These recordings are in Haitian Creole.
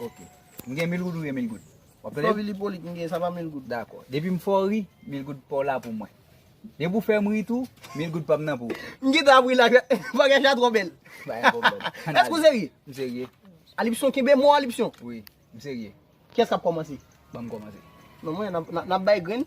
Ok. M gen mil goud ou gen mil goud? Wap tande? Fò ri li pou li k m gen, sa pa mil goud. Dakò. Depi m fè w ri, mil goud pa w la pou mwen. Depi w fè m ri tou, mil goud pa m nan pou ou. M gen tan ap ri la. Bagay sa twò bèl. Pa gen pwoblèm. Èske ou serye? M serye. Alipson, kenbe mo Alipson. Wi. M serye. Kiyès k ap kòmanse? Ban m kòmanse. Non mwen, n ap bay grenn.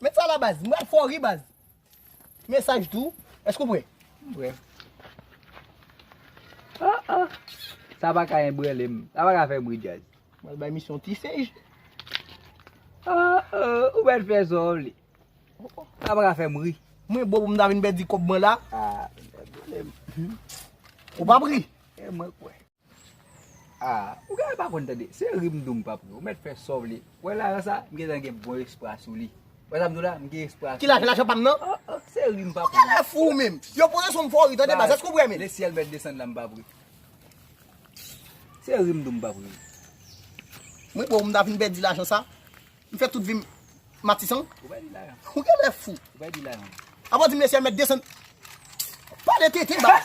Met sa la baz, m pral fè w ri baz. Mesaj tou, èske ou pre? M pre. Sa pa ka enbrele m, sa pa ka fè bri djaz. M pral bay misye yon ti sej. Ou mèt fè sa w li. Sa pa ka fè m ri. Mwen bo pou m ta vin pèdi kòb mwen la. Ou pa p ri? Mwen kwè. Ah ou genlè pa konn tande se ri m dou m pap ri ou mèt fè sa w vle wè lajan sa m gentan gen bon espwa sou li wè sa m di w la m gen espwa sou li Ki lajan lajan pa m nan Oh oh se ri m pap ri Ou genlè fou ou menm Yo poze sou m fò w ri tande baz èske ou prè menn Le ciel mèt desann la m pap ri Se ri m dou m pap ri Mwen bon m ta fin pèdi lajan sa. M fè tout vi m matisan. Ou genlè fou. Apa w di m lesye a mèt desann. Pale tenten baz.